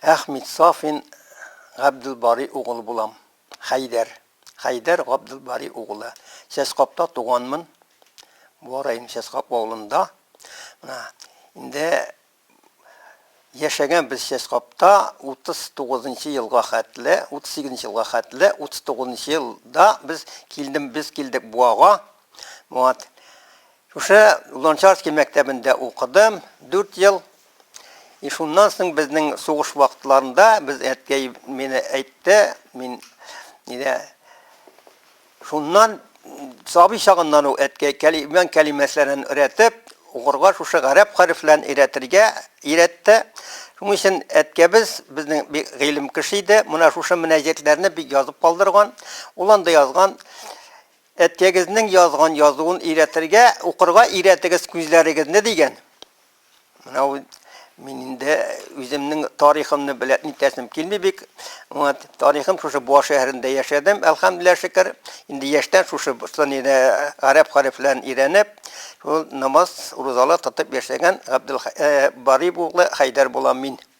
Әхмит Сафин Габделбари угылы булам. Хәйдәр. Хәйдәр Габделбари угылы. Чәчкапта туганмын. Буа районы Чәчкап авылында. Менә инде яшәгән без Чәчкапта 39 нчы елга хәтле, 38 нчы елга хәтле, 39 нчы елда без килдем, без килдек Буага. Вот. Шушы Лончарский мәктәбендә укыдым 4 ел. И шуннан соң безнең сугыш вакытларында без әткәй мине әйтте, мин нидә шуннан сабый чагыннан ук әткәй кәлимән кәлимәсләрен өйрәтеп, укырга шушы гарәп хәрефләрен өйрәтергә өйрәтте. Шуның өчен әткәбез безнең бик гыйлем кеше иде. Менә шушы мөнәҗәтләрне бик язып калдырган. Ул анда язган әткәгезнең язган язуын өйрәтергә, укырга өйрәтегез күзләрегезне дигән. Менә ул мин инде үземнең тарихымны беләп нитәсем килми бик. Вот, тарихым шушы Буа шәһәрендә яшәдем, әлхәмдүлилләһ шөкер. Инде яшьтән шушы Бостоньеда гарәп хәрефләрен өйрәнеп, шул намаз, рузалар тотып яшәгән Габдул Барип углы Хәйдәр булам мин.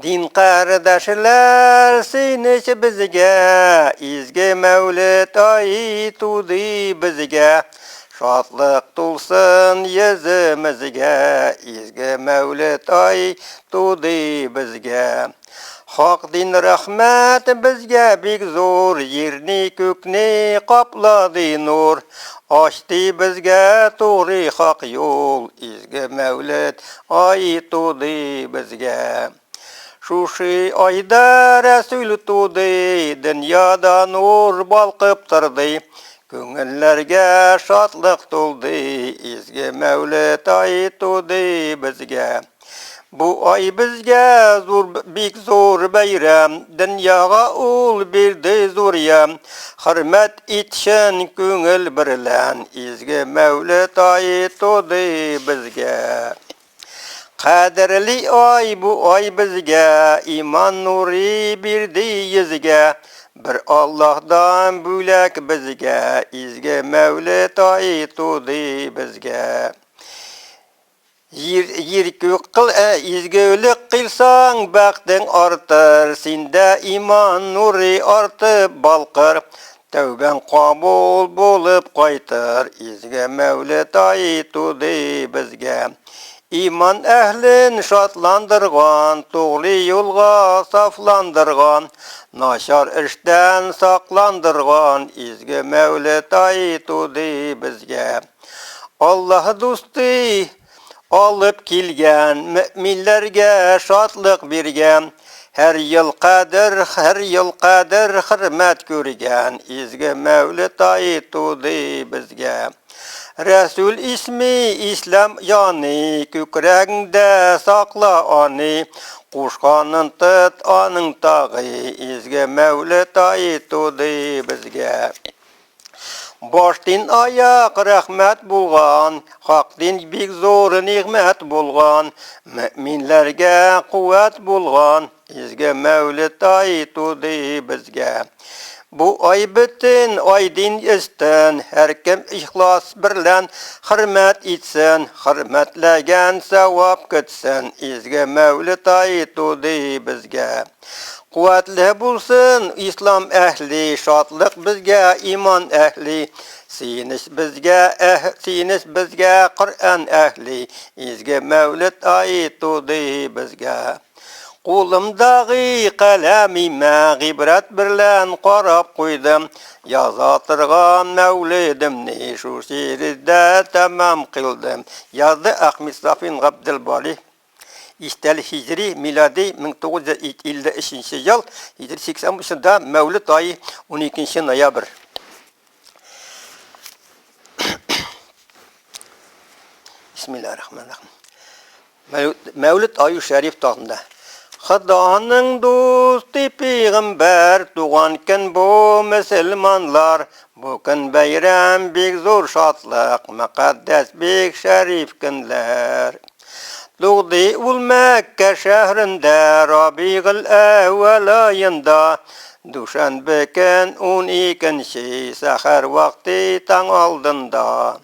Дин кардәшләр, сөенеч безгә, Изге мәүлет ай туды безгә. Шатлык тулсын йөземезгә, Изге мәүлет ай туды безгә. Хак дин рәхмәт безгә бик зур, Җирне, күкне каплады нур. Ачты безгә тугры хак юл, Изге мәүлет Ай туды безгә. Шушы айда Рәсүл туды, дөньяда нур балкып торды. Күңелләргә шатлык тулды, изге Мәүлет ай туды безгә. Бу ай безгә зур бик зур бәйрәм, дөньяга ул бирде зур ям. Хөрмәт Ит чын күңел берлән изге мәүлет ай туды безгә. Кадерли ай бу ай безгә, иман нуры бирде йөзгә. Бер Аллаһдан бүләк безгә, изге мәүлет ай туды безгә. Җир, җир күк кыл, ә изгелек кыйлсаң, бәхтең артыр, синдә иман нуры артып балкыр, тәүбәң кабул булып кайтыр, изге Мәүлет ае туды безгә. Иман әһлен шатландырган, тугры юлга сафландырган, начар эштән сакландырган, изге Мәүлет ае туды безгә. Аллаһ дусты алып килгән, мөэминләргә шатлык биргән, һәр ел кадер, һәр ел кадер хөрмәт күргән, изге Мәүлет ае туды безгә. Рәсүл исми, ислам яны, күкрәгеңдә сакла аны, кушканын тот аның тагы, изге Мәүлет ае туды безгә. Баш дин аяк рәхмәт булган, хак дин бик зур нигъмәт булган, мөэминләргә куәт булган, изге мәүлет ай туды безгә. Бу ай бөтен ай дин өстен, һәркем ихлас берлән хөрмәт итсен, хөрмәтләгән сәвап көтсен, изге мәүлет ай туды безгә. Куәтле булсын ислам әһли, Шатлык безгә, иман әһли, Сөенеч безгә, әһ, сөенеч безгә, Коръән әһли, Изге мәүлет ае туды безгә. Кулымдагы каләмимә Гыйбрәт берлән карап куйдым, Яза торган мәүледемне Шул шигырьдә тәмам кыйлдым, язды Әхмит Сафин Габделбари. Истәлек һиҗри, милади, 1953 нче ел, һиҗри 83 нчыда, мәүлет ае, 12 нче ноябрь. Бисмиллаһир рахманир рахим. Мәүлүд, Мәүлүд аю шәриф тагында. Хыданың дусты пигамбар туган көн бу мөселманлар Бу көн бәйрәм, бик зур шатлык, Мөкатдәс, бик шәриф көнләр. Тугды ул Мәккә шәһрендә, Рабигыл әүвәл аенда. Дүшәнбе көн, ун икенче, Сәхәр вакты, таң алдында.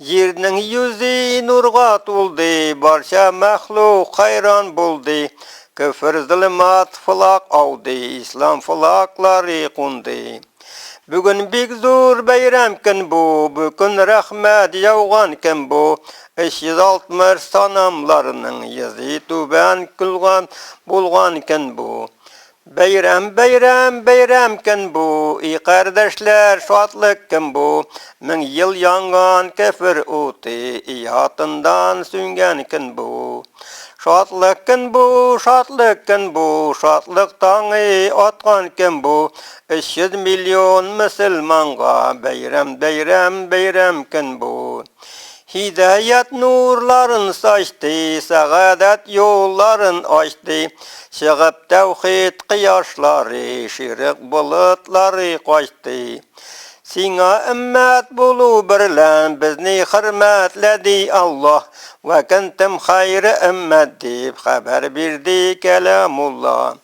Җирнең йөзе нурга тулды, Барча мәхлук хәйран булды. Көфер зөлмат фылак ауды, Ислам фылаклары кунды. Бүген бик зур бәйрәм көн бу, Бүкөн рәхмәт яуган көн бу. 360 санамларның йөзе түбән көлгән булган көн бу. Бәйрәм, бәйрәм, бәйрәм көн бу, И кардәшләр, шатлык көн бу. Мең ел янган кефер уты, И ятындан сүнгән көн бу. Шатлык көн бу, шатлык көн бу, Шатлык таңы аткан көн бу. Өч йөз миллион мөселманга, Бәйрәм, бәйрәм, бәйрәм көн бу. Һидаят нурларын сачты, сәгадәт юлларын ачты. Чыгып тәүхид кояшлары, ширек болытлары качты. Сиңа өммәт булу берлән безне хөрмәтләде Аллаһ. Вә кентем хайры өммәт дип хәбәр бирде кәламулла.